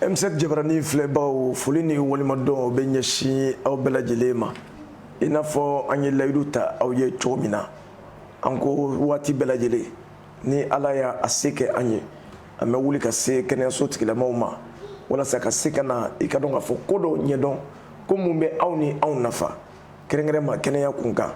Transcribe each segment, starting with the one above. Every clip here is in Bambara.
m7 jabarani filɛbagaw foli ni waleɲumandɔn bɛ ɲɛsin aw bɛɛ lajɛlen ma i n'a fɔ an ye layidu ta aw ye cogo min na an ko waati bɛɛ lajɛlen ni ala y'a a se kɛ an ye an bɛ wuli ka se kɛnɛyaso tigilamaw ma walasa ka se ka na i ka dɔn k'a fɔ ko dɔ ɲɛdɔn ko min bɛ aw ni anw nafa kɛrɛnkɛrɛnma kɛnɛya kun kan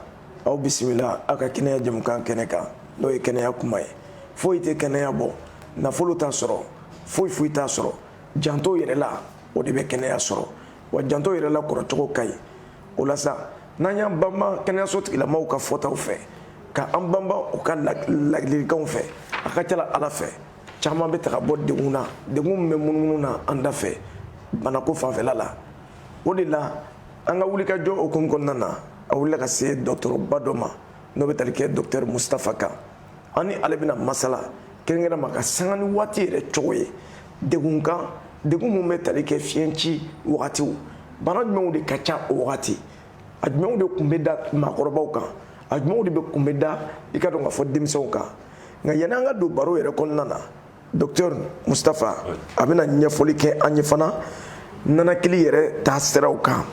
aw bisimila aw ka kɛnɛya jamukan kɛnɛ kan n'o ye kɛnɛya kuma ye foyi tɛ kɛnɛya bɔ nafolo t'a sɔrɔ foyi foyi t'a sɔrɔ janto yɛrɛ la o de bɛ kɛnɛya sɔrɔ wa janto yɛrɛ la kɔrɔcogo ka ɲi o la sa n'an y'an banba kɛnɛyaso tigilamaw ka fɔtaw fɛ ka an banba u ka ladilikanw fɛ a ka ca la ala fɛ caman bɛ taga bɔ degun na degun min bɛ munumunu na an da fɛ banako fanfɛla la o de la an ka wulikajɔ hukumu kɔnɔna na an wulila ka se dɔgɔtɔrɔba dɔ ma n'o bɛ tali kɛ docteur mustafa kan an ni ale bɛna masala kɛrɛnkɛrɛnma ka sanga ni waati yɛrɛ cogo ye degun kan degun min bɛ tali kɛ fiɲɛci wagatiw bana jumɛnw de ka ca o wagati a jumɛnw de kun bɛ da maakɔrɔbaw kan a jumɛnw de bɛ kun bɛ da i ka dɔn k'a fɔ denmisɛnw kan nka yanni an ka don baro yɛrɛ kɔnɔna na docteur Mustafa a bɛna ɲɛfɔli kɛ an ye fana nanakili yɛrɛ taa siraw kan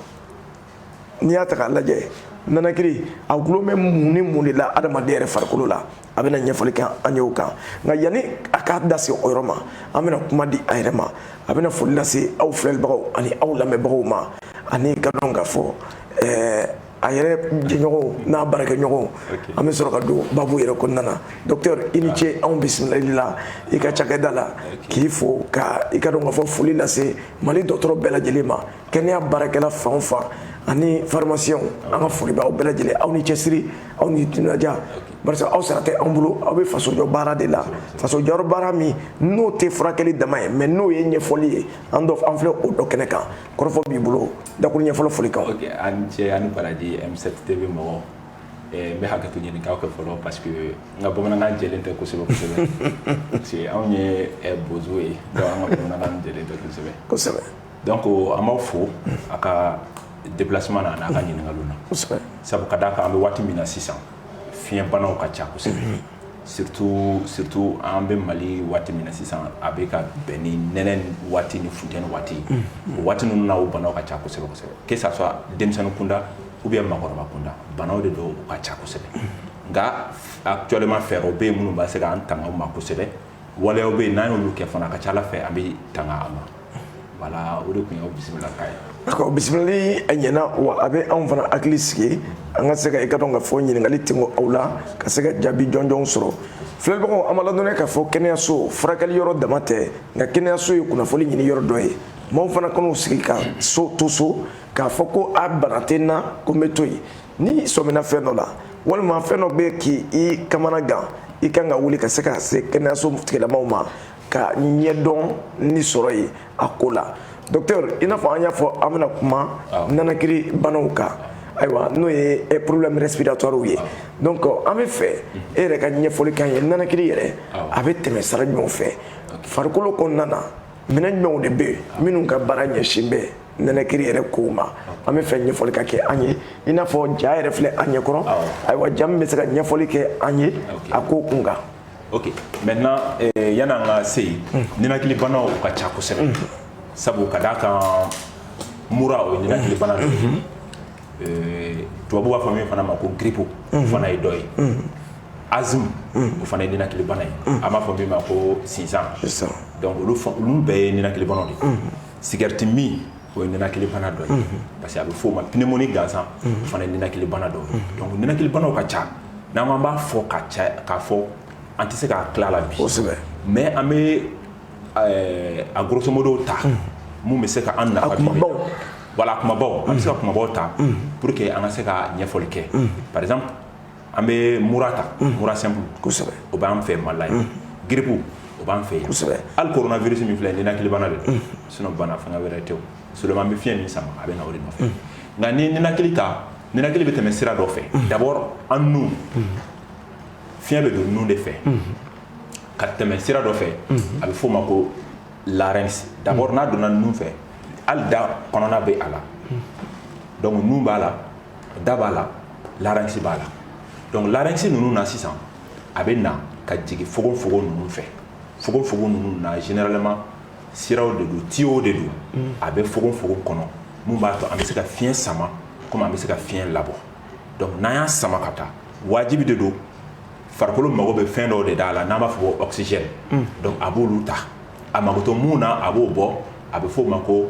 n'i y'a ta k'a lajɛ nanakili a gulo bɛ mun ni mun de la adamaden yɛrɛ farikolo la a bɛna ɲɛfɔli kɛ an ye o kan nka yanni a k'a da se o yɔrɔ ma an bɛna kuma di a yɛrɛ ma a bɛna foli lase aw filɛlibagaw ani aw lamɛnbagaw ma an'i ka dɔn k'a fɔ ɛɛ a yɛrɛ jɛɲɔgɔnw n'a baarakɛɲɔgɔnw an bɛ sɔrɔ ka don babu yɛrɛ kɔnɔna na docteur i ni ce anw bisimilali la i ka cakɛda la k'i fo ka i ka dɔn k'a fɔ foli lase mali dɔgɔtɔrɔ bɛɛ lajɛlen ma kɛnɛya baarakɛla fan o fan ani pharmacien an ka foli b'aw bɛɛ lajɛlen aw ni cɛsiri aw ni timinadiya barisa aw sara tɛ an bolo aw bɛ fasojɔ baara de la fasojɔ baara min n'o tɛ furakɛli dama ye mais n'o ye ɲɛfɔli ye an dɔ an filɛ o dɔ kɛnɛ kan kɔrɔfɔ b'i bolo dakuruɲɛ fɔlɔ foli kan ok a ni ce a ni baraji m7 tv mɔgɔ eh, n bɛ hakɛto ɲini k'a kɛ fɔlɔ parce que n ka bamanankan jɛlen tɛ kosɛbɛ kosɛbɛ parce que anw ye eh, bozo ye donc an ka bamanankan jɛlen tɛ kosɛbɛ kosɛbɛ donc an b'aw fo a ka déplacement na an'a ka ɲininkaliw na sabu ka d'a kan an bɛ waati min na sisan fiɲɛbanaw ka ca kosɛbɛ surtout surtout an bɛ Mali waati min na sisan a bɛ ka bɛn ni nɛnɛ waati ni funteni waati o waati ninnu na o banaw ka ca kosɛbɛ kosɛbɛ que ça soit denmisɛnnin kunda ou bien maakɔrɔba kunda banaw de don u ka ca kosɛbɛ nka actuellement fɛɛrɛw bɛ yen minnu bɛ se k'an tanga u ma kosɛbɛ waleyaw bɛ yen n'an y'olu kɛ fana a ka ca Ala fɛ an bɛ tanga a ma voilà o de tun ye bisimilakan ye d'accord bisimilali a ɲɛna wa a bɛ anw fana hakili sigi an ka se ka i k'a dɔn k'a fɔ ɲininkali tɛmɛ aw la ka se ka jaabi jɔnjɔn sɔrɔ filɛbagaw an b'aw ladɔnniya k'a fɔ kɛnɛyaso furakɛli yɔrɔ dama tɛ nka kɛnɛyaso ye kunnafoni ɲini yɔrɔ dɔ ye maaw fana kan'u sigi ka to so k'a fɔ ko a bana tɛ n na ko n bɛ to yen n'i sɔmina fɛn dɔ la walima fɛn dɔ bɛ k'i kamana gan i kan ka wuli ka se ka se kɛnɛyaso tigilamaw ma ka ɲɛdɔnni sɔrɔ yen a ko la docteur i n'a fɔ an y'a fɔ an bɛna kuma nanakiri banaw kan ayiwa n'o ye eh, problème respiratoire ye donc an b'a fɛ e yɛrɛ ka ɲɛfɔli k'an ye nanakiri yɛrɛ a bɛ tɛmɛ sira jumɛnw fɛ farikolo kɔnɔna na minɛn jumɛnw de bɛ yen minnu ka baara ɲɛsin bɛ nanakiri yɛrɛ kow ma an b'a fɛ ɲɛfɔli ka kɛ an ye i n'a fɔ ja yɛrɛ filɛ an ɲɛkɔrɔ ayiwa ja min bɛ se ka ɲɛfɔli kɛ an ye a ko kun kan ok maintenant eh, yanni an ka se yen mm. ninakili banaw ka ca kosɛbɛ mm. sabu ka d'a kan mura o ye ninakili bana dɔ ye mm-hmm. eh, tubabu b'a fɔ min fana ma ko grippe o mm-hmm. fana ye dɔ ye mm. asthme o fana ye ninakili bana ye an b'a fɔ min ma ko sinsan donc olu bɛɛ ye ninakili banaw de ye sigɛriti min o ye ninakilibana dɔ ye parce que a bɛ fɔ o ma pneumonie gansan o fana ye ninakilibana dɔ ye donc ninakilibanaw ka ca n'an k'an b'a fɔ ka ca k'a fɔ an tɛ se ka tila a la bi kosɛbɛ mais an bɛ euh, a grosso modo ta min bɛ se ka an nafa kumabaw voilà kumabaw an bɛ se ka kumabaw ta pour que an ka se ka ɲɛfɔli kɛ par exemple an bɛ mura ta mura simple kosɛbɛ o b'an fɛ Mali la yan grippe o b'an fɛ kosɛbɛ hali coronavirus min filɛ ninakilibana de don sinon bana fɛngɛ wɛrɛ tɛ seulement an bɛ fiɲɛ min sama a bɛ na o de nɔfɛ nka ni ninakili ta ninakili bɛ tɛmɛ sira dɔ fɛ d'abord an nun fiɲɛ bɛ don nun de fɛ ka tɛmɛ sira dɔ fɛ a bɛ f'o ma ko larynx d'abord n'a donna nun fɛ hali da kɔnɔna bɛ a la donc nun b'a la da b'a la larynx b'a la donc larynx ninnu na sisan a bɛ na ka jigin fogofogo ninnu fɛ fogofogo ninnu na généralement siraw de don tiyow de don mm. a bɛ fogofogo kɔnɔ min b'a to an bɛ se ka fiɲɛ sama komi an bɛ se ka fiɲɛ labɔ donc n'an y'a sama ka taa wajibi de don farikolo mago bɛ fɛn dɔw de d'a la n'an b'a fɔ ko oxygène mm. donc a b'olu ta a mago tɛ min na a b'o bɔ a bɛ f'o ma ko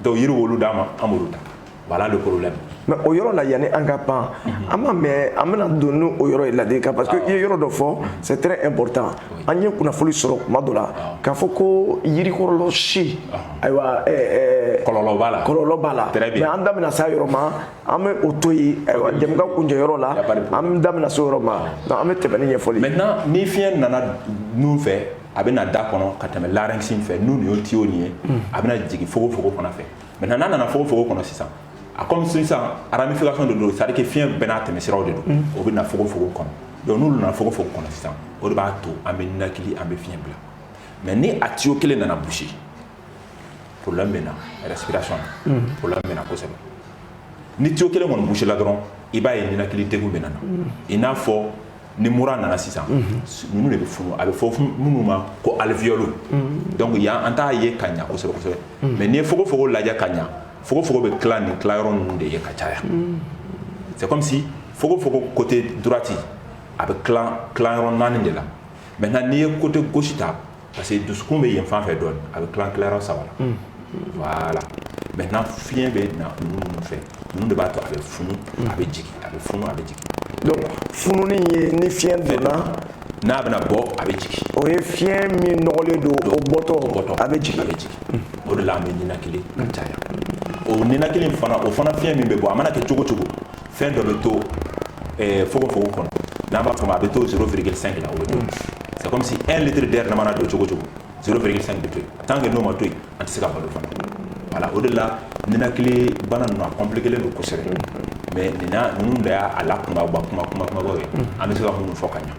donc yiriw olu d'an ma an b'olu ta voilà le problème mais o yɔrɔ la yanni an ka pan an b'a mɛn an bɛna don ni o yɔrɔ ye ladilikan parce que i ye yɔrɔ dɔ fɔ c'est très important an ye kunnafoni sɔrɔ kuma dɔ la k'a fɔ ko yirikɔrɔla si ayiwa kɔlɔlɔ b'a la kɔlɔlɔ b'a la mais an da bɛna se a yɔrɔ ma an bɛ o to yen ayiwa jɛmukan kuncɛ yɔrɔ la an da bɛna se o yɔrɔ ma donc an bɛ tɛmɛ ni ɲɛfɔli maintenant ni fiɲɛ nana nun fɛ a bɛ na da kɔnɔ ka tɛmɛ larynx fɛ n'o y'o tiyo nin ye a bɛna jigin fogofogo fan fɛ maintenant n'a nana fogofogo kɔnɔ sisan a comme sisan ramification de don c'est à dire que fiɲɛ bɛɛ n'a tɛmɛ siraw de don o bɛ na fogofogo kɔnɔ donc n'u nana fogofogo kɔnɔ sisan o de b'a to an bɛ ninakili an bɛ fiɲɛ bila mais ni a tiyo kelen nana boucher problème bɛ na respiration na problème bɛ na kosɛbɛ ni tiyo kelen kɔni boucher la dɔrɔn i b'a ye ninakili degun bɛ na i n'a fɔ ni mura nana sisan ninnu de bɛ furu a bɛ fɔ minnu ma ko alifiylo dɔnkuc y' an t'a ye ka ɲɛsɛbɛsɛbɛ mɛ n'i ye f fɔ lajɛ ka ɲɛ f f bɛ tila ni tila yɔrɔ ninnu de ye ka caya cɛ kɔmimi f f kote duti a bɛ yɔrɔ naani de la mɛ na n'i ye kote gosita parce que dusukun bɛ yen fan fɛ dɔɔnin a bɛ tila tilayɔrɔ saba la hmm. voilà maintenant fiɲɛ bɛ na ninnu ninnu fɛ ninnu de b'a to a bɛ funu hmm. a bɛ jigin a bɛ funu a bɛ jigin donc fununi ye ni fiɲɛ donna n'a bɛna bɔ a bɛ jigin o ye fiɲɛ min nɔgɔlen don o bɔtɔ bɔtɔ a bɛ jigin a bɛ jigin hmm. o de la an bɛ ninakili ka caya o ninakili fana o fana fiɲɛ min bɛ bɔ a mana kɛ cogo cogo fɛn dɔ bɛ to eh, fogofogo kɔnɔ n'an b'a fɔ ma a bɛ to 0,5 la o bɛ to c'est comme si 1 litre d'air n'a mana don cogo cogo 0,5 bɛ to yen tant que n'o ma to yen an tɛ se ka balo fana voilà o de la ninakili bana ninnu a compliqué len don kosɛbɛ mais nin na ninnu de y'a lakunba kuma kuma kumabaw ye an bɛ se ka minnu fɔ ka ɲɛ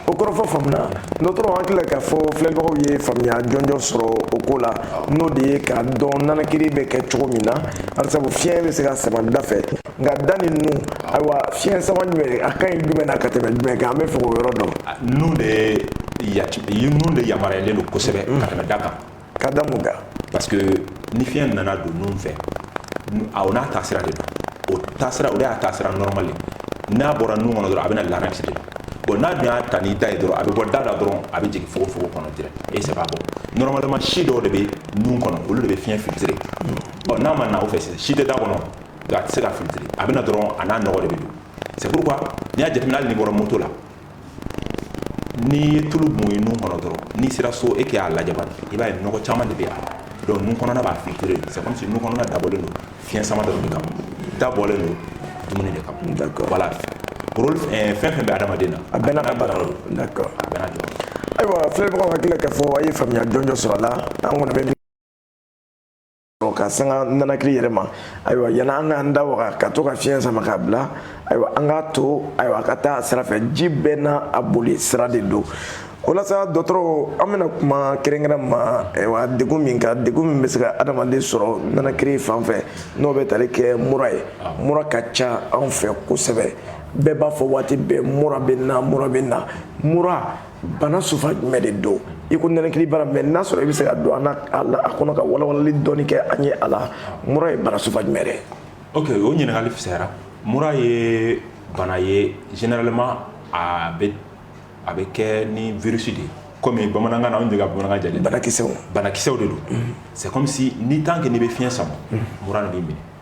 o kɔrɔfɔ faamuna dɔgɔtɔrɔ hakili la k'a fɔ filɛbagaw ye faamuya jɔnjɔn sɔrɔ o ko la n'o de ye k'a dɔn nanakiri bɛ kɛ cogo min na barisabu fiɲɛ bɛ se ka sama da fɛ nka da ni nun ayiwa fiɲɛ sama jumɛn a ka ɲi jumɛn na ka tɛmɛ jumɛn kan an bɛ fɛ k'o yɔrɔ dɔn nun de nun de yamaruyalen don kosɛbɛ ka tɛmɛ da kan ka da mun kan parce que ni fiɲɛ nana don nun fɛ a o n'a taasira de don o taasira o de y'a taasira normal n'a bɔra nun kɔnɔ dɔrɔn a bɛ na larynx de bon n'a dun y'a ta n'i da ye dɔrɔn a bɛ bɔ da la dɔrɔn a bɛ jigin fogofogo kɔnɔ direct et c'est pas bon normalement si dɔw de bɛ nun kɔnɔ olu de bɛ fiɲɛ filtrer bon n'a ma na o fɛ si tɛ da kɔnɔ a tɛ se ka filtrer a bɛ na dɔrɔn a n'a nɔgɔ de bɛ don c'est pourquoi n'i y'a jateminɛ hali n'i bɔra moto la n'i ye tulu bɔn i nun kɔnɔ dɔrɔn n'i sera so e k'a lajɛ bani i b'a ye nɔgɔ caman de bɛ a la donc nun kɔnɔna b'a filtrer c'est comme si nun kɔnɔna dabɔlen don fiɲɛ sama dɔrɔn de kama da bɔlen don dumuni de kama d'accord voilà rôle fɛn fɛn bɛ adamaden na a bɛɛ n'a ka baara don d'accord a bɛɛ n'a jɔyɔrɔ ayiwa filɛbagaw hakili la k'a fɔ a ye faamuya jɔnjɔn sɔrɔ a la an kɔni bɛ ka sanga nanakili yɛrɛ ma ayiwa yanni an k'an da waga ka to ka fiɲɛ sama k'a bila ayiwa an k'a to ayiwa a ka taa a sira fɛ ji bɛɛ n'a a boli sira de don o la sa dɔgɔtɔrɔ an bɛna kuma kɛrɛnkɛrɛn ma ayiwa degun min kan degun min bɛ se ka adamaden sɔrɔ nanakiri fan fɛ n'o bɛ tali kɛ mura ye mura ka ca anw fɛ kosɛbɛ bɛɛ b'a fɔ waati bɛɛ mura bɛ na mura bɛ na mura bana sufa jumɛn de don i ko ninakili bana mais n'a sɔrɔ i bɛ se ka don a kɔnɔ ka walawalali dɔɔni kɛ an ye a la mura ye bana sufa jumɛn de ok o ɲininkali fisayara mura ye bana ye généralement a bɛ a bɛ kɛ ni virus de ye komi bamanankan na anw de ka bamanankan jɛlen banakisɛw banakisɛw de don mhm. c'est comme si ni tant que n'i bɛ fiɲɛ sama mhm. mura de b'i minɛ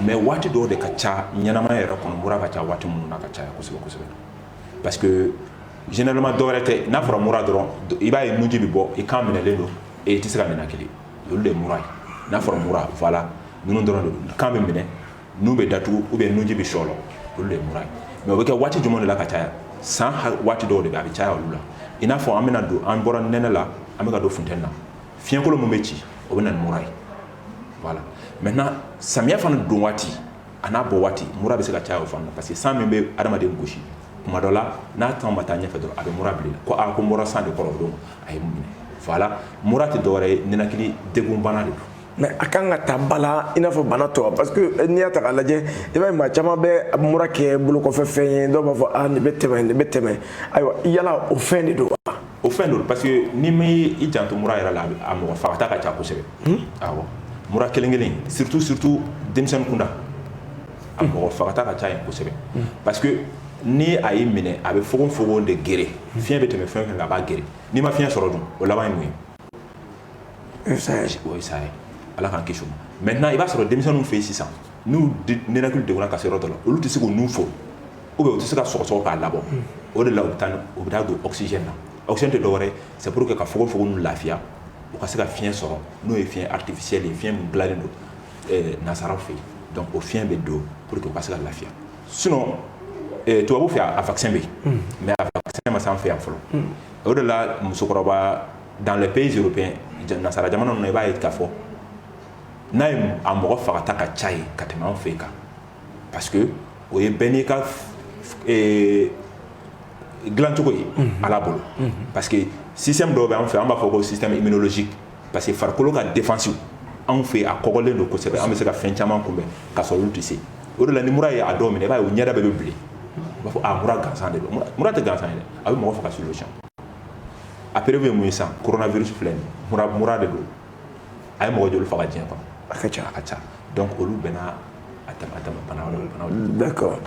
mais waati dɔw de ka ca ɲɛnamaya yɛrɛ kɔnɔ mura ka ca waati minnu na ka caya kosɛbɛ kosɛbɛ parce que généralement dɔwɛrɛ tɛ n'a fɔra mura dɔrɔn i b'a ye nunji bɛ bɔ i kan minɛlen don et i tɛ se ka ninakili olu de ye mura ye n'a fɔra mura voilà ninnu dɔrɔn don kan bɛ minɛ nun bɛ datugu ou bien nunji bɛ sɔlɔ olu de ye mura ye mais o bɛ kɛ waati jumɛn de la ka caya san waati dɔw de bɛ a bɛ caya olu la i n'a fɔ an bɛna don an bɔra nɛnɛ la an bɛ ka don funteni na fiɲɛkolo min bɛ ci o bɛ na ni mura ye voilà maintenant samiya fana don waati a n'a bɔ waati mura bɛ se ka caya o fana parce que san min bɛ adamaden gosi kuma dɔ la n'a temps ma taa ɲɛfɛ dɔrɔn a bɛ mura bila ko a ko mura san de kɔrɔ o don a ye n minɛ voilà mura tɛ dɔwɛrɛ ye ninakili degun bana de don mais a kan ka ta ba la i n'a fɔ bana tɔ parce que eh, n'i y'a ta k'a lajɛ i b'a ye maa caman bɛ mura kɛ bolokɔfɛ fɛn ye dɔw b'a fɔ ah nin bɛ tɛmɛ nin bɛ tɛmɛ ayiwa yala o fɛn de don wa o fɛn don parce que n'i ma i janto mura yɛrɛ la a mɔgɔ fagata ka ca kosɛbɛ hmm? awɔ mura kelen kelen surtout surtout denmisɛnnin kunda a hmm. mɔgɔ fagata ka ca yen kosɛbɛ hmm. parce que ni a y'i minɛ a bɛ fogonfogon de geren fiɲɛ bɛ tɛmɛ fɛn fɛ a b'a geren n'i ma fiɲɛ sɔrɔ dun o laban ye mun ye o ye saya ye o ye saya ye ala k'an kisi o ma maintenant i b'a sɔrɔ denmisɛnninw fɛ yen sisan n'u ninakili degunna ka se yɔrɔ dɔ la olu tɛ se k'u nun fo Ou bien u tɛ se ka sɔgɔsɔgɔ k'a labɔ o de la u bɛ taa u bɛ don oxygène na oxygène tɛ dɔwɛrɛ ye c'est pour que ka fogofogo ninnu lafiya u ka se ka fiɲɛ sɔrɔ n'o ye fiɲɛ artificiel ye fiɲɛ min dilannen don nansaraw fɛ yen donc o fiɲɛ bɛ don pour que u ka se ka lafiya sinon tubabu fɛ yen a vaccin bɛ yen mais a vaccin ma se an fɛ yan fɔlɔ o de la musokɔrɔba dans les pays européens nansara jamana ninnu na i b'a ye k'a fɔ n'a ye a mɔgɔ fagata ka ca yen ka tɛmɛ an fɛ yan kan parce que o ye bɛɛ n'i ka eh, dilancogo ye mhm. ala bolo mhm. parce que système dɔw bɛ an fɛ an b'a fɔ ko système immunologique parce que farikolo ka défense anw fɛ a kɔgɔlen don kosɛbɛ an bɛ se ka fɛn caman kunbɛn ka sɔrɔ olu tɛ se o de la ni mura ye a dɔw minɛ i b'a ye u ɲɛda bɛɛ bɛ bilen u b'a fɔ a mura gansan de don mura tɛ gansan ye dɛ a bɛ mɔgɔ faga sur le champ a preuve ye mun ye sisan coronavirus filɛ nin mura mura de don a ye mɔgɔ joli faga diɲɛ kɔnɔ a ka ca a ka ca donc olu bɛnna d'accord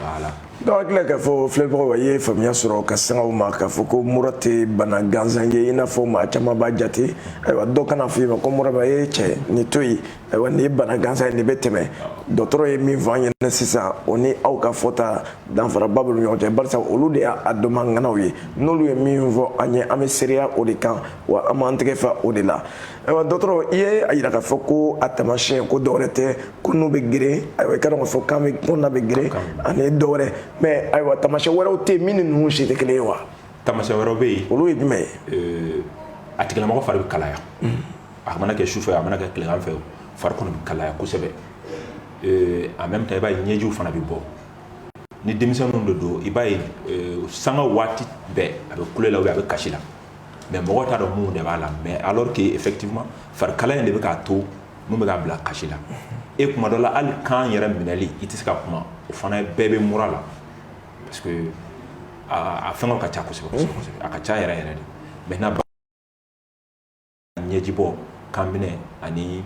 donc hakili la k'a fɔ filɛbagaw a ye faamuya sɔrɔ ka sanga o ma k'a fɔ ko mura tɛ bana gansan ye i n'a fɔ maa caman b'a jate ayiwa dɔw kana a f'i ma ko mura b'a ye cɛ nin to yen ayiwa nin ye bana gansan ye nin bɛ tɛmɛ dɔgɔtɔrɔ ye min fɔ an ɲɛna sisan o ni aw ka fɔta danfaraba bɛ ɲɔgɔn cɛ barisa olu de y'a dɔnbaga ŋanaw ye n'olu ye min fɔ an ye an bɛ seereya o de kan wa an b'an tɛgɛ fa o de la ayiwa dɔgɔtɔrɔ i ye a yira k'a fɔ ko a taamasiyɛn ko dɔwɛrɛ tɛ ko nun bɛ geren ayiwa i k'a dɔn k'a fɔ kan bɛ kan na bɛ geren ani dɔ wɛrɛ mais ayiwa taamasiyɛn wɛrɛw tɛ yen min ni ninnu si tɛ kelen ye wa taamasiyɛn wɛrɛw bɛ yen olu ye jumɛn ye euh, a tigilamɔgɔ fari bɛ kalaya hmm. a mana kɛ sufɛ a mana kɛ tilegan fɛ fari kɔnɔ bɛ kalaya kosɛbɛ euh, en même temps i b'a ye ɲɛjiw fana bɛ bɔ ni denmisɛnninw de don i b'a ye euh, sanga waati bɛɛ a bɛ kule la a bɛ kasi la mais mɔgɔ t'a dɔn mun de b'a la mais alors que effectivement farikalaya in de bɛ k'a to mun bɛ k'a bila kasi la e kuma dɔ la hali kan yɛrɛ minɛli i tɛ se ka kuma o fana bɛɛ bɛ mura la parce que a fɛnkɛw ka ca kosɛbɛ kosɛbɛ a ka ca yɛrɛ yɛrɛ de maintenant ɲɛjibɔ kan minɛ ani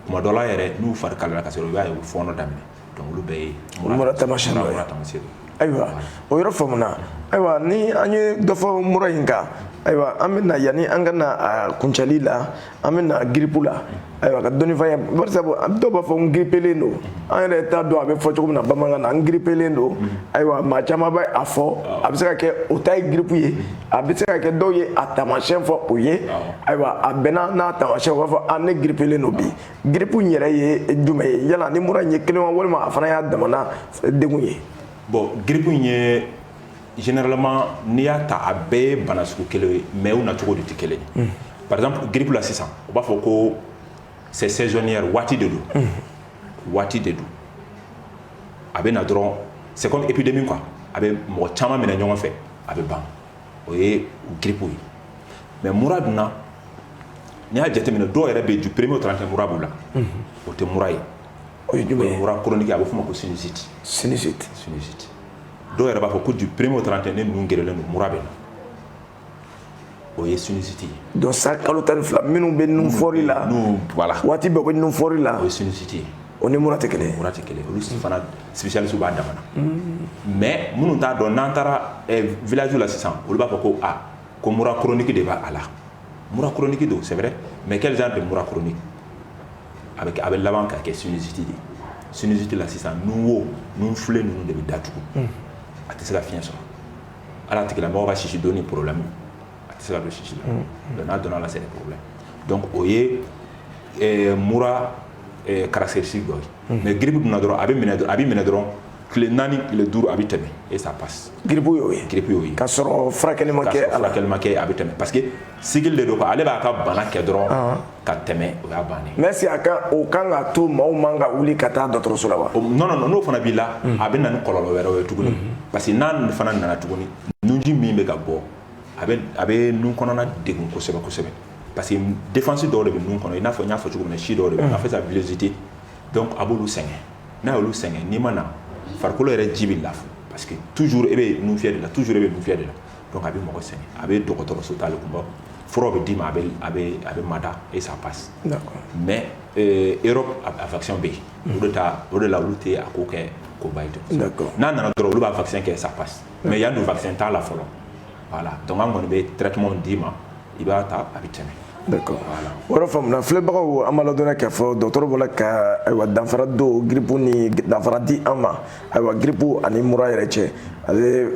kuma dɔ la yɛrɛ n'u fari kalala ka sɔrɔ i b'a ye u fɔɔnɔ daminɛ olu bɛɛ ye mura taamasiyɛn dɔ ye mura taamasiyɛn don ayiwa o yɔrɔ faamuna ayiwa ni an ye dɔ fɔ mura in kan ayiwa an bɛna yanni an ka na a kuncɛli la an bɛ na giripu la ayiwa ka dɔnnifanya barisa dɔw b'a fɔ n giripelen don an yɛrɛ t'a dɔn a bɛ fɔ cogo min na bamanankan na n giripelen don ayiwa maa caman bɛ a fɔ a bɛ se ka kɛ o ta ye giripu ye a bɛ se ka kɛ dɔw ye a taamasiyɛn fɔ o ye ayiwa a bɛnna n'a taamasiyɛn u b'a fɔ a ne giripelen don bi giripu in yɛrɛ ye jumɛn ye yala ni mura in ye kelen wa walima a fana y'a damana degun ye bon giripu in ye généralement n'i y'a ta a bɛɛ ye bana sugu kelen ye mais u nacogo de tɛ kelen ye hmm. par exemple giripu la sisan u b'a fɔ ko c'est saisonnière waati de don hmm. waati de don a bɛ na dɔrɔn c'est comme épidémie quoi a bɛ mɔgɔ caman minɛ ɲɔgɔn fɛ a bɛ ban o ye giripu ye mais mura dun n'i y'a jateminɛ dɔw yɛrɛ bɛ du premier au trente et un mura b'u la o tɛ mura ye o ye jumɛn ye mura chronique a bɛ f'o ma ko sinusite sinusite sinusite dɔw yɛrɛ b'a fɔ ko du premier au trente et un ne nun gerennen don mura bɛ n na o ye sinusite ye donc san kalo tan ni fila minnu bɛ nun fɔɔri la voilà waati bɛɛ b'u nun fɔɔri la o ye sinusite ye O ni mura tɛ kelen mura tɛ kelen olu si fana spécialiste b'a dama na mais minnu t'a dɔn n'an taara village la sisan olu b'a fɔ ko aa ko mura chronique de b'a a la mura chronique don c'est vrai mais quel genre de mura chronique a bɛ a bɛ laban ka kɛ sinusite de sinusite la sisan nunwo fila ninnu de bɛ datugu a tɛ se ka fiɲɛ sɔrɔ voilà tigilamɔgɔ ka sisi don ni problème a tɛ se ka don sisi la donc n'a donna la c'est des problèmes donc o ye ɛɛ mura ɛɛ caractéristique dɔ ye mais grippe donna dɔrɔn a b'i minɛ a b'i minɛ dɔrɔn tile naani tile duuru a bɛ tɛmɛ et ça passe grippe y'o ye grippe y'o ye k'a sɔrɔ furakɛli ma kɛ a la furakɛli ma kɛ a bɛ tɛmɛ parce que cycle de don quoi ale b'a ka bana kɛ dɔrɔn ka tɛmɛ o y'a bannen mais est-ce que a ka o kan ka to maaw man ka wuli ka taa dɔgɔtɔrɔso la wa o non non non n'o fana b'i la a bɛ na ni kɔlɔlɔ wɛrɛw ye tuguni parce que n'a fana nana tuguni nunji min bɛ ka bɔ a bɛ a bɛ nun kɔnɔna degun kosɛbɛ kosɛbɛ parce que défense dɔw de bɛ nun kɔnɔ i n'a fɔ n y'a fɔ cogo min na si dɔw de bɛ yen, on appelle ça villosité donc a b'olu sɛgɛn n'a y'olu sɛgɛn n'i ma na farikolo yɛrɛ ji bɛ lafu parce que toujours e bɛ nun fiyɛ de la toujours e bɛ nun fiyɛ de la donc a bɛ mɔgɔ sɛgɛn a bɛ dɔgɔtɔrɔso taali kunba furaw bɛ d'i ma a bɛ a bɛ a bɛ mada et ça passe mais euh, Europe a vaccin bɛ yen o de ta o de la olu tɛ a ko kɛ koba ye ten n'a nana dɔrɔn olu b'a vaccin kɛ ça passe mais yan o vaccin t'a la fɔlɔ voilà donc an kɔni bɛ traitement d'i ma i b'a ta a bɛ tɛmɛ voilà faamuna filɛbagaw an b'aw ladɔnniya k'a fɔ dɔgɔtɔrɔ bɔra ka ayiwa danfara don grippe ni danfara di an ma ayiwa grippe ani mura yɛrɛ cɛ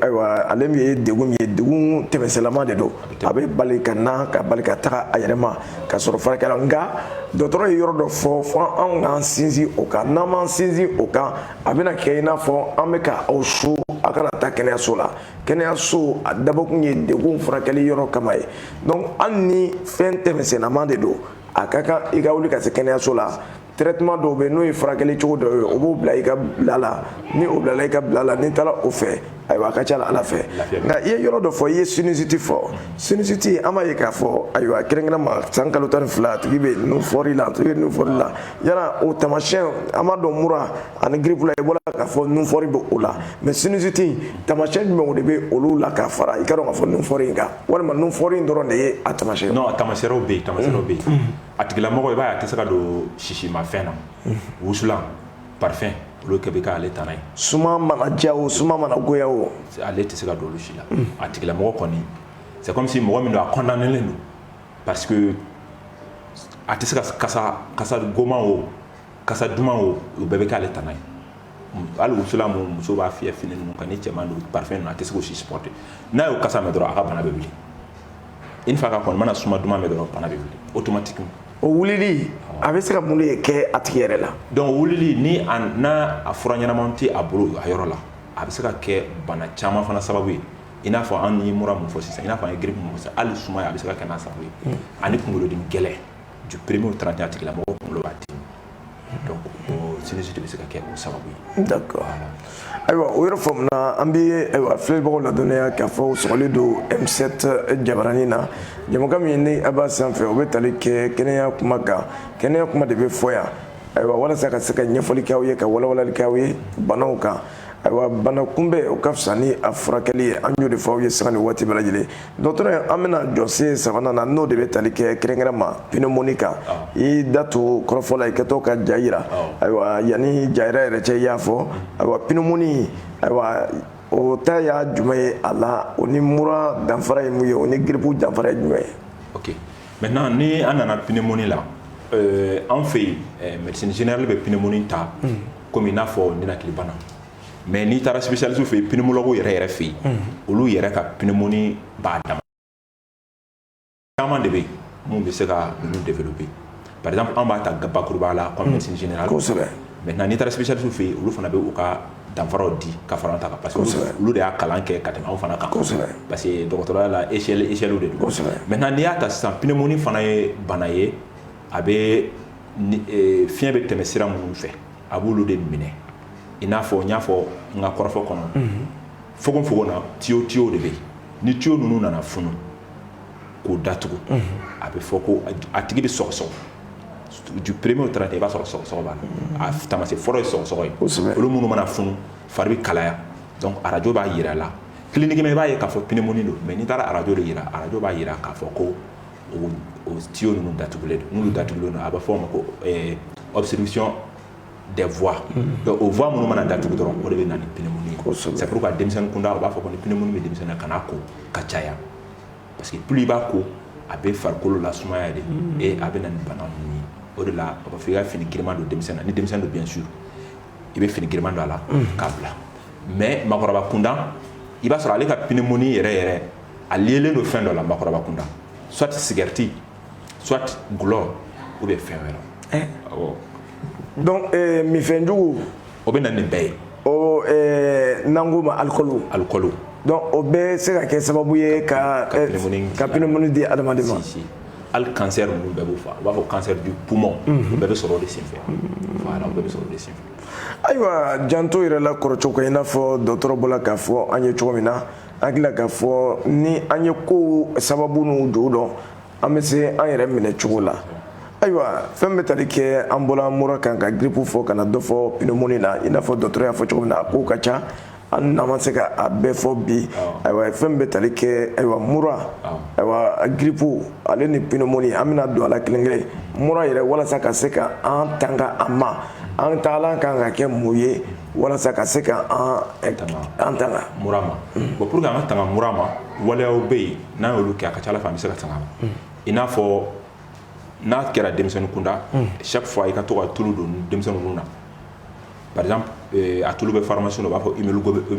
ayiwa ale min ye degun ye degun tɛmɛsennama de don a bɛ bali ka na ka bali ka taga a yɛrɛma ka sɔrɔ furakɛla nka dɔgɔtɔrɔ ye yɔrɔ dɔ fɔ fo anw k'an sinsin o kan n'an m'an sinsin o kan a bɛna kɛ i n'a fɔ an bɛ ka aw so a kana taa kɛnɛyaso la kɛnɛyaso a dabɔkun ye degun furakɛli yɔrɔ kama ye donc hali ni fɛn tɛmɛsennama de don a ka kan i ka wuli ka se kɛnɛyaso la traitement dɔw bɛ n'o ye furakɛli cogo dɔw ye o b'o bila i ka bila la ni o bilala i ka bila la n'i taara o fɛ ayiwa a ka ca ala fɛ nka i ye yɔrɔ dɔ fɔ i ye sinusite fɔ sinusite an b'a ye k'a fɔ ayiwa kɛrɛnkɛrɛnma san kalo tan ni fila a tigi bɛ nun fɔri la a tigi bɛ nun fɔri la yala o tamasiyɛn an b'a dɔn mura ani grippe la i bɔra k'a fɔ nun fɔri bɛ o la mais sinusite tamasiyɛn jumɛnw de bɛ olu la k'a fara i ka dɔn k'a fɔ nun fɔri in kan walima nun fɔri in dɔrɔn de ye a tamasiyɛn non a tamasiyɛnw bɛ yen tamasiyɛnw bɛ yen a tigilamɔgɔ i b'a ye a tɛ se ka don sisimafɛn na wusulan parfum olu kɛ bɛ k'ale tana ye suma mana diya o suma mana goya o ale tɛ se ka don olu si la a tigilamɔgɔ kɔni c'est comme si mɔgɔ min don a condamnélen don parce que a tɛ se ka kasa goman o kasa duman o o bɛɛ bɛ kɛ ale tana ye hali wusulan muso b'a fiyɛ fini ninnu kan ni cɛman don parfum a tɛ se k'o si supporter n'a y'o kasa mɛn dɔrɔn a ka bana bɛ wuli une fois k'a kɔni mana suma duman mɛn dɔrɔn bana bɛ wuli automatiquement o wulili a bɛ se ka mun de kɛ a tigi yɛrɛ la donc wulili ni a n'a a fura ɲɛnamaw tɛ a bolo a yɔrɔ la a bɛ se ka kɛ bana caman fana sababu ye i n'a fɔ an ye mura mun fɔ sisan i n'a fɔ an ye grippe mun fɔ sisan hali sumaya a bɛ se ka kɛ n'a sababu ye ani kunkolodimi gɛlɛn du premier au 31 a tigilamɔgɔ kunkolo b'a dimi donc o sinusite bɛ se ka kɛ o sababu ye. d'accord ayiwa o yɔrɔ faamuna an bɛ ayiwa filɛbagaw ladɔnniya k'a fɔ u sɔgɔlen don M7 jabaranin na jɛmukan min ni a b'a sanfɛ o bɛ tali kɛ kɛnɛya kuma kan kɛnɛya kuma de bɛ fɔ yan ayiwa walasa ka se ka ɲɛfɔli kɛ aw ye ka walawalali kɛ aw ye banaw kan. ayiwa bana kunbɛn o ka fisa ni a furakɛli ye an y'o de fɔ aw ye sanga ni waati bɛɛ lajɛlen dɔgɔtɔrɔ an bɛna jɔsen sabanan na n'o de bɛ tali kɛ kɛrɛnkɛrɛn ma pneumonie kan i da to kɔrɔfɔ la i kɛtɔ ka ja yira ayiwa yanni ja yira yɛrɛ cɛ i y'a fɔ ayiwa pneumonie ayiwa o ta ye jumɛn ye a la o ni mura danfara ye mun ye o ni giripu danfara ye jumɛn ye ok maintenant ni an nana pneumonie la euh, an fɛ yen eh, médecine générale bɛ pneumonie ta hmm. komi i n'a fɔ ninakilibana mais n'i taara spécialiste fɛ yen pneumologue yɛrɛ yɛrɛ fɛ yen olu yɛrɛ ka pneumonie b'a dama caman de bɛ yen mun bɛ se ka ninnu développer par exemple an b'a ta bakuruba la comme médecine générale kosɛbɛ maintenant n'i taara spécialiste fɛ yen olu fana bɛ u ka danfaraw di ka fara ta kan parce que olu de y'a kalan kɛ ka tɛmɛ anw fana kan kosɛbɛ parce que dɔgɔtɔrɔya la échelle échelle de don kosɛbɛ maintenant n'i y'a ta sisan pneumonie fana ye bana ye a bɛ e, fiɲɛ bɛ tɛmɛ sira minnu fɛ a b'olu de minɛ i n'a fɔ n y'a fɔ n ka kɔrɔfɔ kɔnɔ mhm. fogonfogon na tiyo tiyo de bɛ yen ni tiyo ninnu nana funu k'u datugu mhm. a bɛ fɔ ko a tigi bɛ sɔgɔsɔgɔ du premier au trente i b'a sɔrɔ sɔgɔsɔgɔ b'a la a taamasiyɛn fɔlɔ ye sɔgɔsɔgɔ ye olu minnu mana funu fari bɛ kalaya donc arajo b'a yira a la cliniquement i b'a ye k'a fɔ pneumonie don mais n'i taara arajo de yira arajo b'a yira k'a fɔ ko o tiyo ninnu datugulen don n'olu datugulen don a bɛ fɔ o ma ko obstruction des voies o voies minnu mana datugu dɔrɔn o de bɛ na ni pneumonie c'est pourquoi denmisɛnnin kunda u b'a fɔ ko ni pneumonie bɛ denmisɛnnin na kan'a ko ka caya parce que plus i b'a ko a bɛ farikolo lasumaya de ee a bɛ na ni bana ye o de la a b'a fɔ i ka fini giriman don denmisɛnnin na ni denmisɛnnin don bien sûr i bɛ fini giriman don a la k'a bila mais maakɔrɔba kunda i b'a sɔrɔ ale ka pneumonie yɛrɛ yɛrɛ a lielen don fɛn dɔ la maakɔrɔba kunda soit sigarɛti soit dɔlɔ ou bien fɛn wɛrɛ awɔ donc euh, minfɛn jugu o bɛ na nin bɛɛ ye o euh, n'an k'o ma alikɔlu alikɔlu donc o bɛ se ka kɛ sababu ye ka ka euh, pneumonie di adamaden ma hali cancer ninnu bɛɛ b'o fɛ u b'a fɔ cancer du poumon o mhm. bɛɛ bɛ sɔrɔ o de senfɛ voilà o bɛɛ bɛ sɔrɔ o de senfɛ ayiwa janto yɛrɛ la kɔrɔcogo kan i n'a fɔ dɔgɔtɔrɔ bɔra k'a fɔ an ye cogo min na an hakili la k'a fɔ ni an ye kow sababu n'u ju dɔn an bɛ se an yɛrɛ minɛ cogo la ayiwa fɛn bɛ tali kɛ an bɔra mura kan ka grippe fɔ ka na dɔ fɔ pneumonie na i n'a fɔ dɔgɔtɔrɔ y'a fɔ cogo min na a kow ka ca an n'an ma se ka a bɛɛ fɔ bi ayiwa fɛn bɛ tali kɛ ayiwa mura ayiwa grippe ale ni pneumonie an bɛna don a la kelen kelen mura yɛrɛ walasa ka se ka an tanga a ma an taalan kan ka kɛ mun ye walasa ka se ka an tanga mura ma bon pour que an ka tanga mura ma waleyaw bɛ yen n'an y'olu kɛ a ka ca ala fɛ an bɛ se ka tanga ma mm. i n'a fɔ n'a kɛra denmisɛnnin kunda mm. chaque fois i ka to ka tulu don denmisɛnnin nun na par exemple eh, a tulu bɛ pharmacie la u b'a fɔ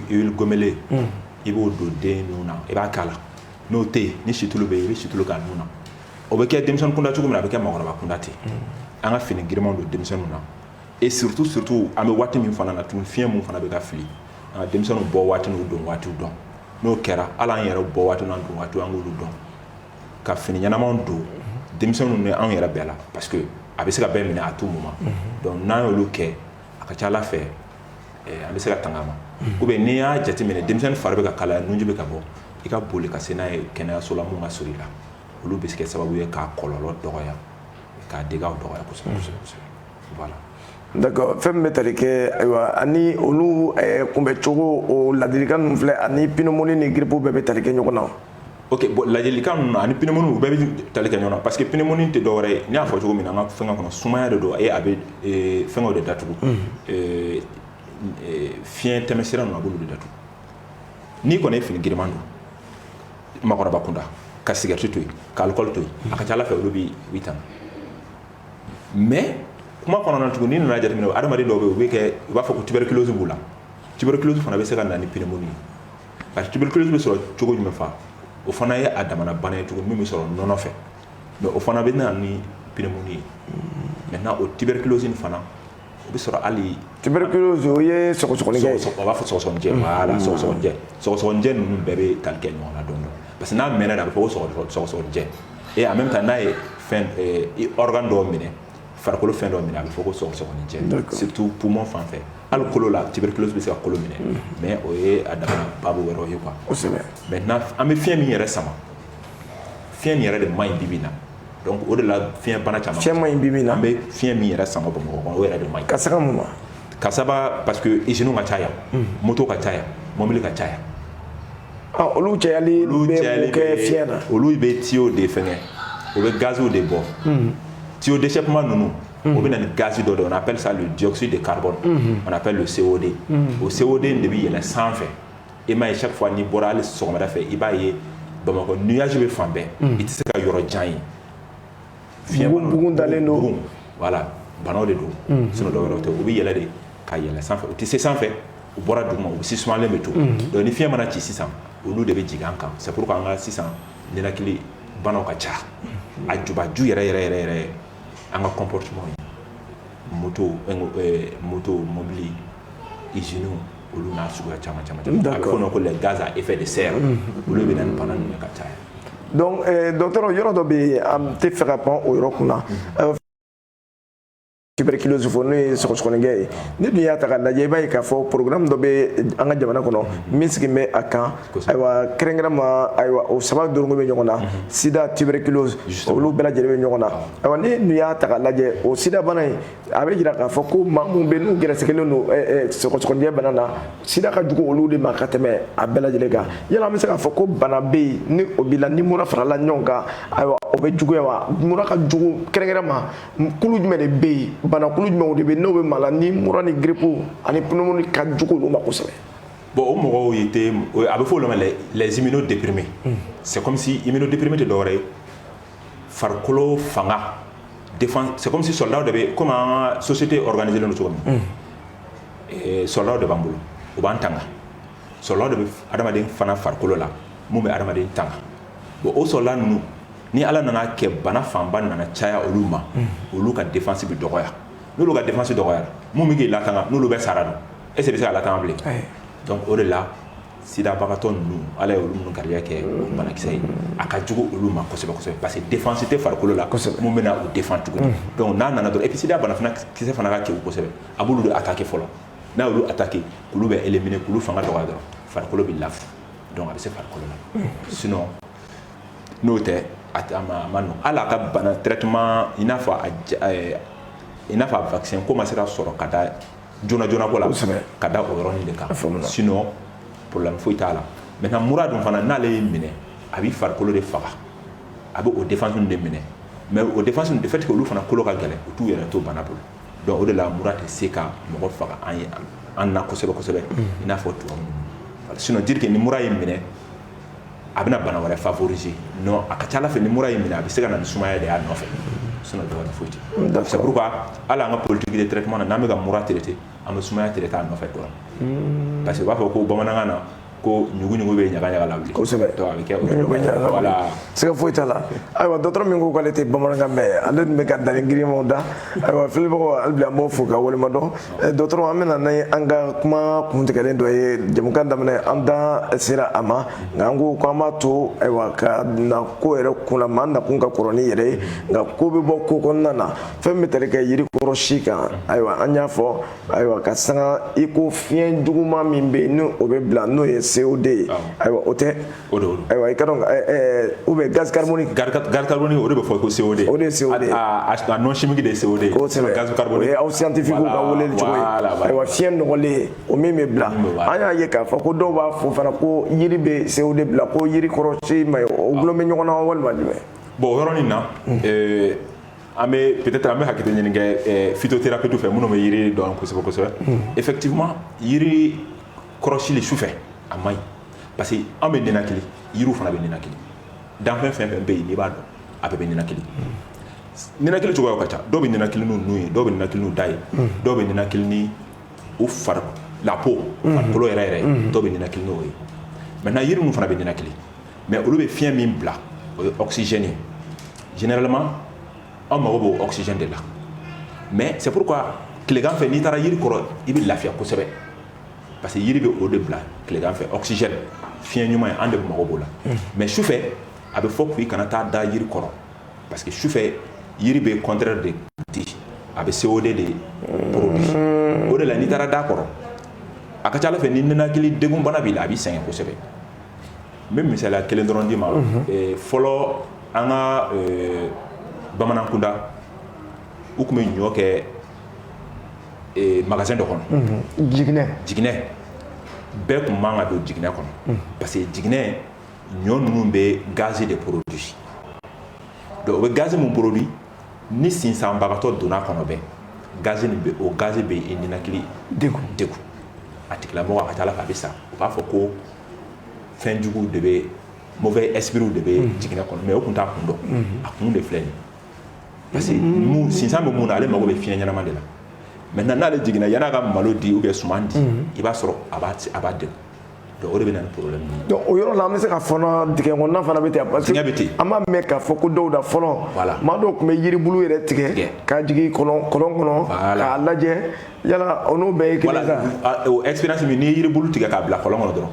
huile goménolée mm. i b'o don dennin nun na i b'a k'a la n'o tɛ yen ni situlu bɛ yen i bɛ situlu k'a nun na o bɛ kɛ denmisɛnnin kunda cogo min na a bɛ kɛ maakɔrɔba kunda ten an ka fini girimanw don denmisɛnninw na et surtout surtout an bɛ waati min fana na tun fiɲɛ min fana bɛ ka fili an ka denmisɛnninw bɔ waati n'u don waatiw dɔn n'o kɛra hali an yɛrɛ bɔ waati n'an don waati an k'olu dɔn ka fini ɲɛnamanw don denmisɛnninw ni anw yɛrɛ bɛɛ la parce que a bɛ se ka bɛɛ minɛ à tout moment donc n'an y'olu kɛ a ka ca ala fɛ eh, an bɛ se ka tanga ma ou bien n'i y'a jateminɛ denmisɛnnin fari bɛ ka kalaya nunji bɛ ka bɔ i ka boli ka se n'a ye kɛnɛyaso la min ka surun i la olu bɛ se kɛ sababu ye k'a kɔlɔlɔ dɔgɔya k'a dégâts dɔgɔya kosɛbɛ kosɛbɛ kosɛbɛ d'accord fɛn min bɛ tali kɛ ayiwa ani olu eh, kunbɛcogo o ladilikan ninnu filɛ ani pneumonie ni grippe bɛɛ bɛ tali kɛ ɲɔgɔn na ok bon ladilikan ninnu na ani pneumonie u bɛɛ bɛ tali kɛ ɲɔgɔn na parce que pneumonie tɛ dɔwɛrɛ ye n y'a fɔ cogo min na an ka fɛngɛ kɔnɔ sumaya de don a ye a bɛ eh, fɛngɛw de datugu eh, fiɲɛ tɛmɛsira ninnu a b'olu de datugu n'i kɔni ye fini giriman don maakɔrɔba kunda ka cigarette to yen ka alcool to yen a ka ca ala fɛ olu b'i tanga mais kuma kɔnɔna tuguni n'i nana jateminɛ adamaden dɔw bɛ yen u bɛ kɛ u b'a fɔ ko tuberculose b'u la tuberculose fana bɛ se ka na ni pneumonie ye parce que tuberculose bɛ sɔrɔ cogo jumɛn fa o fana ye a damana bana ye tuguni min bɛ sɔrɔ nɔnɔ fɛ mais o fana bɛ na ni pneumonie ye maintenant o tuberculose in fana o bɛ sɔrɔ hali tuberculose o ye sɔgɔsɔgɔnijɛ ye u b'a fɔ sɔgɔsɔgɔnijɛ mm. voilà mm. sɔgɔsɔgɔnijɛ sɔgɔsɔgɔnijɛ ninnu bɛɛ bɛ tali kɛ ɲɔgɔn na dɔɔni dɔɔni parce que n'a mɛnna de a bɛ fɔ ko sɔgɔsɔgɔnijɛ et en même temps n'a ye fɛn eh, organe dɔw minɛ farikolo fɛn dɔw minɛ a bɛ fɔ ko sɔgɔsɔgɔnijɛ surtout poumon fan fɛ hali kolo la tuberculose bɛ se ka kolo minɛ mm. mais o ye a damana baabu wɛrɛw ye quoi kosɛbɛ maintenant an bɛ fiɲɛ min yɛrɛ sama fiɲɛ nin yɛrɛ de man ɲi bi bi in na donc o de la fiɲɛ bana caman fiɲɛ man ɲi bi bi in na an bɛ fiɲɛ min yɛrɛ sama bamakɔ kɔnɔ o yɛrɛ de man ɲi ka saga mun ma ka saba parce que iziniw ka ca yan hmm. moto ka ca yan mɔbili ka ca yan ah, olu cayali bɛ mun kɛ fiɲɛ na olu bɛ tuyau de fɛngɛ o bɛ gaziw de bɔ hmm. tuyau d'échappement ninnu hmm. o bɛ na ni gazi dɔ de on appelle ça le dioxyde de carbone on appelle le CO2 o CO2 in de bɛ yɛlɛn sanfɛ i m'a ye chaque fois n'i bɔra hali sɔgɔmada fɛ i b'a ye Bamakɔ nuage bɛ fan bɛɛ i tɛ se ka yɔrɔ jan ye fiɲɛ b'a la bugun dalen don bugun voilà banaw de don sinon dɔwɛrɛ o tɛ u bɛ yɛlɛ de ka yɛlɛ sanfɛ u tɛ se sanfɛ u bɔra duguma u sisumalen bɛ to donc ni fiɲɛ mana ci sisan olu de bɛ jigin an kan c'est pourquoi an ka sisan ninakili banaw ka ca a jubaju yɛrɛ yɛrɛ yɛrɛ An ka kɔnptu moto moto mɔbili iz olu n'a sugu caman caman da kɔnɔ ko ganzsa e fɛ de se yan olu bɛ nin pan ninnu ka caya dɔtɔ yɔrɔ dɔ bɛ yen an tɛ fɛ ka pan o yɔrɔ kunna sibiri kilosu fɔ n'o ye skɛ ye ni dun y'a ta lajɛ i b'a ye k'a fɔ porokkira dɔ bɛ an ka jamana kɔnɔ min sigi bɛ a kan ayiwa kɛrɛnkɛrɛnma ayiwa o saba dorokolen bɛ ɲɔgɔn na sida tuberculose olu bɛɛ lajɛlen bɛ ɲɔgɔn na ayiwa ni dun y'a ta k'a lajɛ o sida bana in a bɛ jira k'a fɔ ko maa minnu bɛ n'u gɛrɛsɛgɛlen don sɔgɔsɔgɔnijɛ bana na sida ka jugu olu de ma ka tɛmɛ a bɛɛ lajɛlen kan yala an bɛ se k'a fɔ ko bana bɛ yen ni o b'i la ni mura farala ɲɔgɔn kan ayiwa o bɛ juguya wa mura ka jugu kɛrɛnkɛrɛnma kulu jumɛn de bɛ yen banakulu jumɛnw de bɛ yen n'o bɛ maa la ni mura ni grippe ani pneumonie ka jugu olu ma kosɛbɛ bon o mɔgɔw ye tɛ a bɛ fɔ olu ma les immunodéprimés c'est comme si immunodéprimé tɛ dɔwɛrɛ ye farikolo fanga défense c'est comme si soldat de bɛ comme an ka société organisée len don cogo min eh, soldat de b'an bolo u b'an tanga soldat de bɛ adamaden fana farikolo la mun bɛ adamaden tanga bon o soldat ninnu ni ala nana kɛ bana fanba nana caya olu ma olu ka défense bɛ dɔgɔya n'olu ka défense dɔgɔyara mun bɛ k'i latanga n'olu bɛɛ sara dun est-ce qu'i bɛ se ka latanga bilen donc o de la sidabagatɔ ninnu ala ye olu minnu garijɛgɛ o banakisɛ ye a ka jugu olu ma kosɛbɛ kosɛbɛ parce que défense tɛ farikolo la kosɛbɛ mun bɛna u défend tuguni donc n'a nana dɔrɔn et puis sida bana fana kisɛ fana ka kewu kosɛbɛ a b'olu de attaquer fɔlɔ n'a y'olu attaquer k'olu bɛɛ éliminer k'olu fanga dɔgɔya dɔrɔn farikolo bɛ lafu donc a bɛ se farikolo la sinon n'o tɛ a ma nɔgɔn hali a ka bana traitement i n'a fɔ a i n'a fɔ a vaccin ko ma se ka sɔrɔ ka da joona joona ko la kosɛbɛ ka da o yɔrɔnin de kan sinon problème foyi t'a la maintenant mura dun fana n'ale y'i minɛ a b'i farikolo de faga a bɛ o défense de minɛ mais o défense de fait que olu fana kolo ka gɛlɛn u t'u yɛrɛ to bana bolo donc o de la mura tɛ se ka mɔgɔ faga an ye an na kosɛbɛ kosɛbɛ i n'a fɔ tubabu sinon dire que ni mura y'i minɛ a bɛna bana wɛrɛ favoriser non a ka ca a la fɛ ni mura y'i minɛ a bɛ se ka na ni sumaya de y'a nɔfɛ sinon dɔ wɛrɛ foyi tɛ c'est pourquoi hali an ka politique de traitement na n'an bɛ ka mura traiter an bɛ sumaya traiter a nɔfɛ dɔrɔn parce que u b'a fɔ ko bamanankan na ko ɲuguɲugu bɛ ɲagaɲaga lawuli kosɛbɛ donc a bɛ kɛ o ɲuguɲugu bɛ ɲaga lawuli siga foyi t'a la ayiwa dɔgɔtɔrɔ min ko k'ale tɛ bamanankan mɛn ale tun bɛ ka danni girinmanw da ayiwa filɛbagaw hali bi an b'aw fo k'aw waleɲumandɔn Eh, dɔgɔtɔrɔ an bɛ na ni an ka kuma kuntigɛlen dɔ ye jamukan daminɛ an da sera a ma nka an ko k'an b'a to ayiwa ka na ko yɛrɛ kun la maa nakun ka kɔrɔ ni yɛrɛ ye nka ko bɛ bɔ ko kɔnɔna na fɛn bɛ tali kɛ yiri kɔrɔ si kan ayiwa an y'a fɔ ayiwa k'a sanga i ko fiɲɛ juguman min bɛ yen ni o bɛ bila n'o ye CO2 ye ayiwa o tɛ O de don ayiwa i k'a dɔn ou bien gaz carbonique gaz carbonique o de bɛ fɔ ko CO2 o de ye CO2 nom chimique de ye CO2 gaz carbonique aw scientifique ka weleli cogo ayiwa fiɲɛ nɔgɔlen o min bɛ bila an y'a ye k'a fɔ ko dɔw b'a fɔ fana ko yiri bɛ CO2 bila ko yiri kɔrɔ si man ɲi olu bɛ ɲɔgɔn na walima jumɛn bon o yɔrɔ min na an bɛ peut-être an bɛ hakili ɲini kɛ phytothérapeute fɛ minnu bɛ yiri dɔn kosɛbɛ kosɛbɛ effectivement yiri kɔrɔsili sufɛ a man ɲi parce que an bɛ ninakili yiriw fana bɛ ninakili danfɛn fɛn o fɛn bɛ yen n'i b'a dɔn a bɛɛ bɛ ninakili ninakili cogoyaw ka ca dɔw bɛ ninakili n'u nun ye dɔw bɛ ninakili n'u da ye dɔw bɛ ninakili ni u fari la peau farikolo yɛrɛ yɛrɛ dɔw bɛ ninakili n'o ye maintenant yiri ninnu fana bɛ ninakili mais olu bɛ fiɲɛ min bila o ye oxygène ye généralement an mago b'o oxygène de la mais c'est pourquoi tilegan fɛ n'i taara yiri kɔrɔ i bɛ lafiya kosɛbɛ parce que yiri bɛ o de bila tilegan fɛ oxygène fiɲɛ ɲuman ye an de mago b'o la mais sufɛ a bɛ fɔ k'i kana taa da yiri kɔrɔ parce que sufɛ yiri bɛ contraire de di a bɛ CO2 de produit o de la n'i taara d'a kɔrɔ a ka ca a la fɛ ni ninakili degun bana b'i la a b'i sɛgɛn kosɛbɛ n bɛ misaliya kelen dɔrɔn d'i ma fɔlɔ an ka bamanankunda u tun bɛ ɲɔ kɛ magasin dɔ kɔnɔ jiginɛ bɛɛ tun man ka don jiginɛ kɔnɔ parce que jiginɛ ɲɔ ninnu bɛ gaz de produit o bɛ gaz min produit ni sinsanbagatɔ donn'a kɔnɔ bɛ gaz o gaz bɛ i ninakili degun a tigilamɔgɔ a ka ca a la fɛ a bɛ sa u b'a fɔ ko fɛn jugu de bɛ mauvais esprit de bɛ jiginɛ kɔnɔ mais o tun t'a kun dɔn a kun de filɛ nin parce que mun sinsan bɛ mun na ale mago bɛ fiɲɛ ɲɛnama de la maintenant n'ale jiginna yan'a ka malo di ou bien suman di i b'a sɔrɔ a b'a a b'a degun donc o de bɛ na ni problème ye donc o yɔrɔ la an bɛ se k'a fɔ dingɛ kɔnɔna fana bɛ ten parce que Dingɛ bɛ ten. an b'a mɛn k'a fɔ ko dɔw da fɔlɔ Voilà. maa dɔw tun bɛ yiribulu yɛrɛ tigɛ Tigɛ. k'a jigin kɔlɔn kɔlɔn kɔnɔ Voilà. k'a lajɛ yala o n'o bɛɛ ye kelen ye voilà sa a- o expérience min n'i ye yiribulu tigɛ k'a bila kɔlɔn kɔnɔ dɔrɔn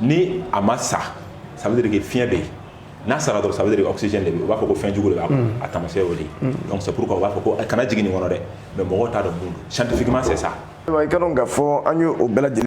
ni a ma sa ça veut dire que fiɲɛ bɛ yen n'a sara dɔrɔn ça veut dire oxygène tɛ yen u b'a fɔ ko fɛn jugu de b'a kɔnɔ a taamasiyɛn y'o de ye donc c'est pourquoi u b'a fɔ ko kana jigin nin kɔnɔ dɛ mais mɔgɔw t'a dɔn mun don scientifiquement c'est ça. i k'a dɔn k'a fɔ an ye o bɛɛ lajɛlen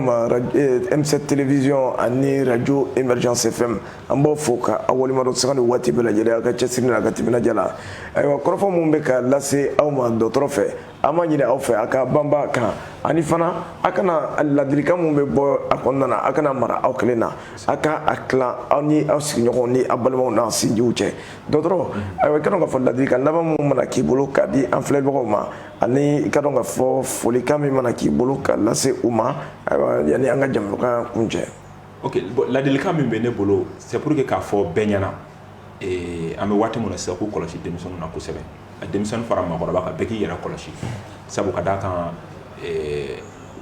M7 télévision ani radio Émergence FM an b'aw fo ka aw waleɲumandɔn sanga ni waati bɛɛ lajɛlen aw ka cɛsiri n'a ka timinandiya la ayiwa kɔrɔfɔ minnu bɛ ka lase aw ma dɔgɔtɔrɔ fɛ an b'a ɲini aw fɛ a ka banba kan ani fana a kana ladilikan min bɛ bɔ a kɔnɔna na a kana mara aw kelen na a ka a tilan aw ni aw sigiɲɔgɔnw ni aw balimaw n'aw sinjiw cɛ dɔgɔtɔrɔ ayiwa i ka dɔn k'a fɔ ladilikan laban min mana k'i bolo ka di an filɛbagaw ma ani i ka dɔn k'a fɔ folikan min mana k'i bolo ka lase u ma ayiwa yanni an ka jamukan kuncɛ ok ladilikan min bɛ ne bolo c'est pour que k'a fɔ bɛɛ ɲɛna an bɛ waati min na sisan k'u kɔlɔsi denmisɛnnin na kosɛbɛ a denmisɛnnin fara maakɔrɔba kan bɛɛ k'i yɛrɛ kɔlɔsi sabu ka d'a kan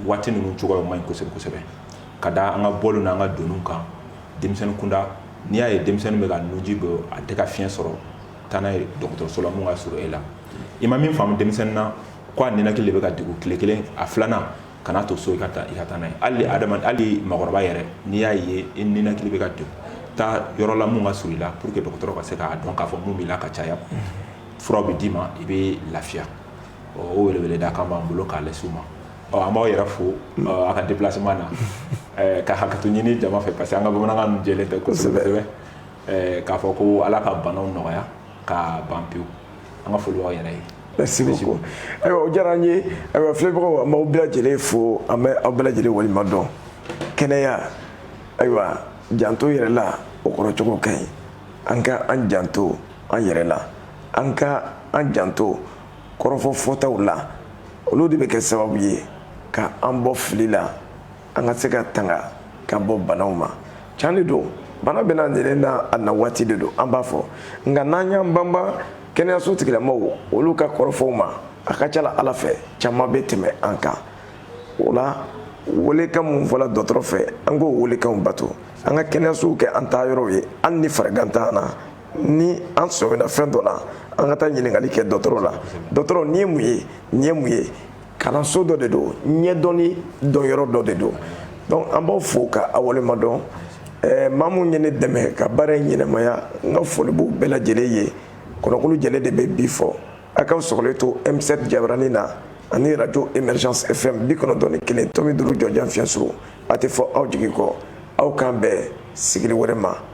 waati ninnu cogoya man ɲi kosɛbɛ kosɛbɛ ka da an ka bɔliw n'an ka donniw kan denmisɛnnin kunda n'i y'a ye denmisɛnnin bɛ ka nuji bɔ a tɛ ka fiɲɛ sɔrɔ taa n'a ye dɔgɔtɔrɔso la min ka surun e la i ma min faamu denmisɛnnin na ko a ninakili de bɛ ka degun tile kelen a filanan kana to so i ka taa i ka taa n'a ye hali adama hali maakɔrɔba yɛrɛ n'i y'a ye i ninakili bɛ ka degun taa yɔrɔ la mun ka surun i la pour que dɔgɔtɔrɔ ka se k'a dɔn k'a fɔ mun b'i la ka caya furaw bɛ d'i ma i bɛ lafiya o weleweleda kan b'an bolo k'a lase u ma an b'aw yɛrɛ fo a ka déplacement na ka hakɛto ɲini jama fɛ parce que an ka bamanankan ninnu jɛlen tɛ kosɛbɛ kosɛbɛ k'a fɔ ko ala ka banaw nɔgɔya ka ban pewu an ka foli b'aw yɛrɛ ye merci beaucoup ayiwa o diyara an ye ayiwa filɛbagaw an b'aw bɛɛ lajɛlen fo an bɛ aw bɛɛ lajɛlen waleɲumandɔn kɛnɛya ayiwa janto yɛrɛ la o kɔrɔ cogo ka ɲi an ka an janto an yɛrɛ la an ka an janto kɔrɔfɔ fɔtaw la olu de bɛ kɛ sababu ye ka an bɔ fili la an ka se ka tanga ka bɔ banaw ma can de don bana bɛ na nɛnɛ na a na waati de don an b'a fɔ nka n'an y'an banba kɛnɛyaso tigilamɔgɔw olu ka kɔrɔfɔw ma a ka ca la ala fɛ caman bɛ tɛmɛ an kan o la welekan minnu fɔla dɔgɔtɔrɔ fɛ an k'o welekanw bato an ka kɛnɛyasow kɛ an taa yɔrɔw ye hali ni farigan t'an na ni an sɔmina fɛn dɔ la an ka taa ɲininkali kɛ dɔgɔtɔrɔ la dɔgɔtɔrɔ nin ye mun ye nin ye mun ye kalanso dɔ de don ɲɛdɔnni dɔnyɔrɔ dɔ de don donc an b'aw fo ka aw waleɲumandɔn eh, maa minnu ye ne dɛmɛ ka baara in ɲɛnamaya n ka foli b'u bɛɛ lajɛlen ye kɔnɔkulu jɛlen de bɛ bii fɔ a k'aw sɔgɔlen to m7 jabarani na ani radio émergence fm bi kɔnɔntɔn ni kelen tomi duuru jɔjan fiɲɛsuru a tɛ fɔ aw jigi kɔ aw k'an bɛn sigili wɛrɛ ma